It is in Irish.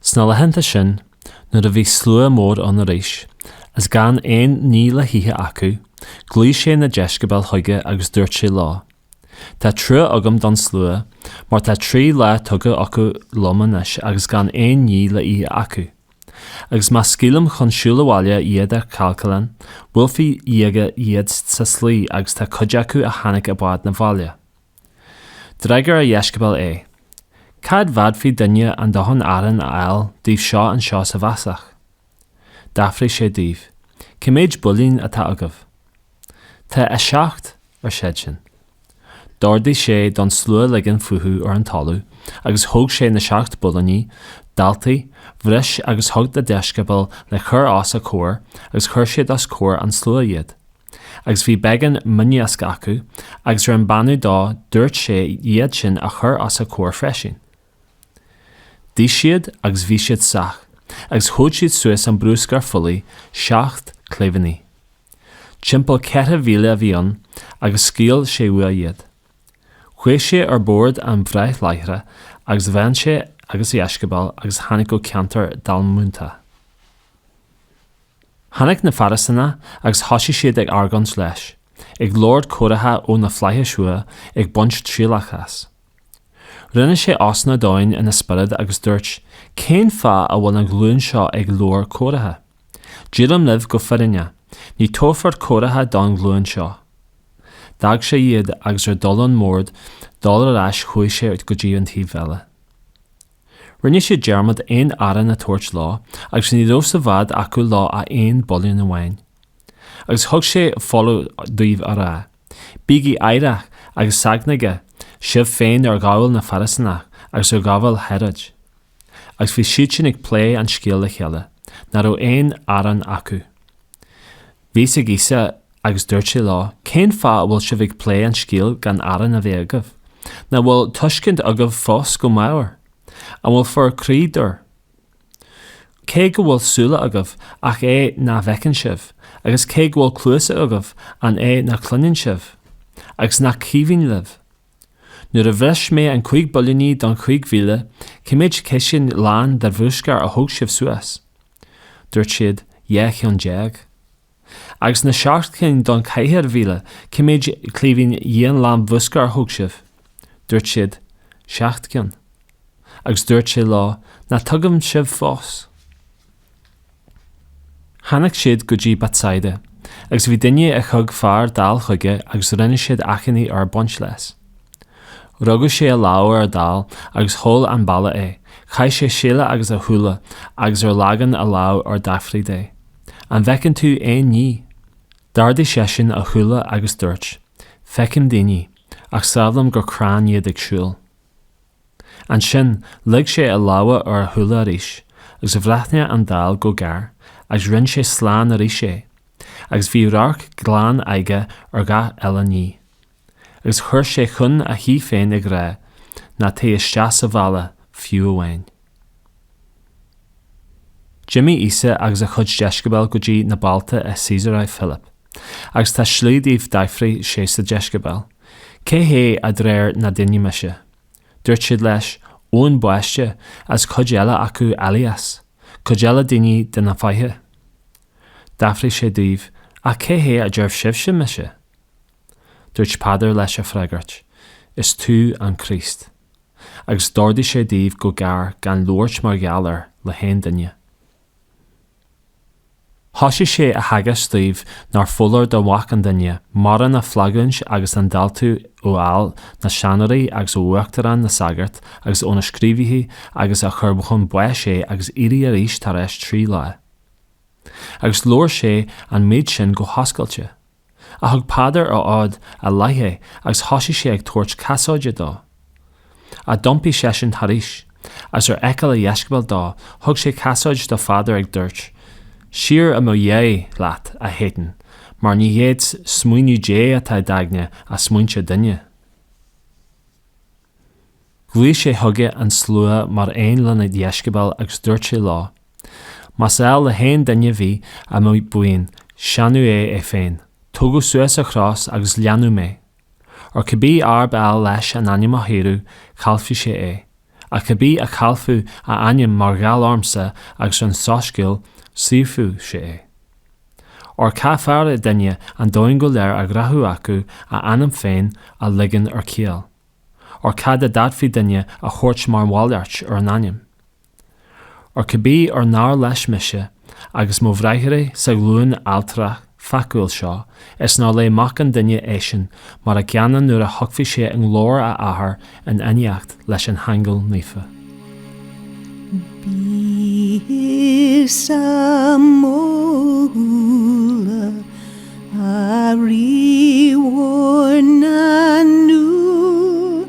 Sna laethanta sin, nuair a bhí slua mór ann arís, is gan aon ní le hithe acu, ghlaoigh sé na deisceabail chuige agus dúirt sé leo, Tá trua agam don slua, mar tá trí lá tugtha acu liom anois agus gan aon ní le ithe acu. Agus má scaoilim chun siúil abhaile iad ar céalacan, buailfidh laige iad sa slí agus tá cuid acu a tháinig i bhfad 'na bhaile. D'fhreagair a dheisceabail é, Cá bhféadfadh duine a ndóthain aráin a fháil dóibh seo anseo sa bhfásach? D'fhiafraigh sé díobh, Cé méid builín atá agaibh? Tá a seacht, ar siadsan. D'ordaigh sé don slua ligean fúthu ar an talamh, agus thóg sé na seacht builíní, d'altaigh, bhris agus thug dá dheisceabail le cur os a comhair, agus chuir siad os comhair an tslua iad. agus bhí beagán mioniasc acu, agus ar a mbeannú dó dúirt sé iad sin a chur os a comhair freisin. D'ith siad agus bhí siad sách, agus thóg siad suas an bruscar fuílligh, seacht cléibhíní. Timpeall ceithre mhíle a bhí ann, agus scaoil sé uaidh iad. Chuaigh sé ar bord an bháid láithreach agus bhain sé agus a dheisceabail agus tháinig go ceantar Dalmanúta. Tháinig na Fairisínigh agus thosaigh siad ag argóint leis, ag lorg comhartha ó na Flaithis uaidh ag baint trialach as. Rinne sé osna domhain ina spiorad agus dúirt, Cén fáth a bhfuil an ghlúin seo ag lorg comhartha? Deirim libh go fírinneach, ní tabharfar comhartha don ghlúin seo. D'fhág sé iad agus ar dhul ón mbord dó arís chuaigh sé go dtí an taobh eile. Rinne siad dearmad aon arán a tabhairt leo agus ní raibh sa bhád acu leo ach aon builín amháin. Agus thug sé foláireamh dóibh á rá, Bígí aireach agus seachnaígí sibh féin ar ghabháil na Fairisíneach agus ar ghabháil Héaróid. Agus bhí siadsan ag plé an scéil le chéile, ná raibh aon arán acu. Bhí a fhios ag Íosa agus dúirt sé leo, Cén fáth a bhfuil sibh ag plé an scéil gan arán a bheith agaibh? Ná bhfuil tuiscint agaibh fós go meabhair? An bhfuil bhur croí dúr? Cé go bhfuil súile agaibh, ach é ná bhfeiceann sibh, agus cé go bhfuil cluasa agaibh, an é ná cluineann sibh? Agus nach cuimhin libh? Nuair a bhris mé an cúig builíní don chúig mhíle, cé méid ciseán lán de bhruscar a thóg sibh suas? Dúirt siad, Dhá cheann déag. Agus na seacht cinn don cheithre mhíle, cé méid cléibhín den lán bhruscair a thóg sibh? Dúirt siad, Seacht gcinn. Agus dúirt sé leo, Ná tuigeann sibh fós. Tháinig siad go dtí Betsaida, agus bhí duine a thug fear dall chuige agus rinne siad achainí air baint leis. Rugadh sé a lámh ar dall agus sheol an baile é, chaith sé seile agus a shúile agus ar leagan a lámh air d'fhiafraigh de, An bhfeiceann tú aon ní? D'ardaigh seisean a shúile agus dúirt, Feicim daoine, ach samhlaím gur crainn iad ag siúl. Ansin, leag sé a lámha ar a shúile arís, agus bhreathnaigh an dall go géar, agus rinne sé slán arís é, agus bhí radharc glan aige ar gach uile ní. Agus chuir sé chun a thí féin ag rá, Ná téigh isteach sa bhaile, fiú amháin. D'imigh Íosa agus a chuid deisceabail go dtí na bailte i Caesarea Philip, agus sa tslí dóibh D'fhiafraigh sé dá dheisceabail, Cé hé a deir na daoine mise? Dúirt siad leis, Eoin Baiste, is cuid eile acu Éilias, cuid eile duine de na fáithe. D'fhiafraigh sé díobh, Ach cé hé a deir sibhse mise? Dúirt Peadar leis á fhreagairt, Is tú an Críost. agus d'ordaigh sé dóibh go géar gan labhairt mar gheall air le haon duine. Thosaigh sé á theagasc dóibh nárbh fholáir do Mhac an Duine mórán a fhulaingt agus an diúltú a fháil na seanóirí agus ó uachtaráin na sagart agus ó na scríobhaithe agus a chur chun báis é agus éirí arís tar éis trí lá. Agus labhair sé an méid sin go hoscailte. Ach thug Peadar ar fhód ar leith é agus thosaigh sé ag tabhairt casaoide dó. Ach d'iompaigh seisean thairis, agus ar fheiceáil a dheisceabal dó thug sé casaoid do Pheadar agus dúirt, Siar i mo dhiaidh leat, a Shátain, mar ní hiad smaoineamh Dé atá i d'aigne ach smaointe duine. Ghlaoigh sé chuige an slua mar aon lena dheisceabail agus dúirt sé leo, Más áil le haon duine bheith ar mo bhuíon, séanadh é é féin. Tógadh suas a chros agus leanadh mé. Óir cibé arb áil leis an anam a shaoradh, caillfidh sé é. Ach cibé a chaillfeadh a anam mar gheall ormsa agus ar an Soiscéal, saorfaidh sé é. Óir cá fearrde duine an domhan go léir a ghnóthú agus a anam féin a ligean ar ceal? Óir cad a d'fhéadfadh duine a thabhairt mar mhalairt ar an anam? Óir cibé ar náir leis mise agus mo bhriathra sa ghlúin adhaltrach pheacúil seo, is náir le Mac an Duine eisean mar an gcéanna nuair a thiocfaidh sé i nglóir a Athar in éineacht leis na haingil naofa. Bídh sa mbóla, a Rí mhór na ndúl.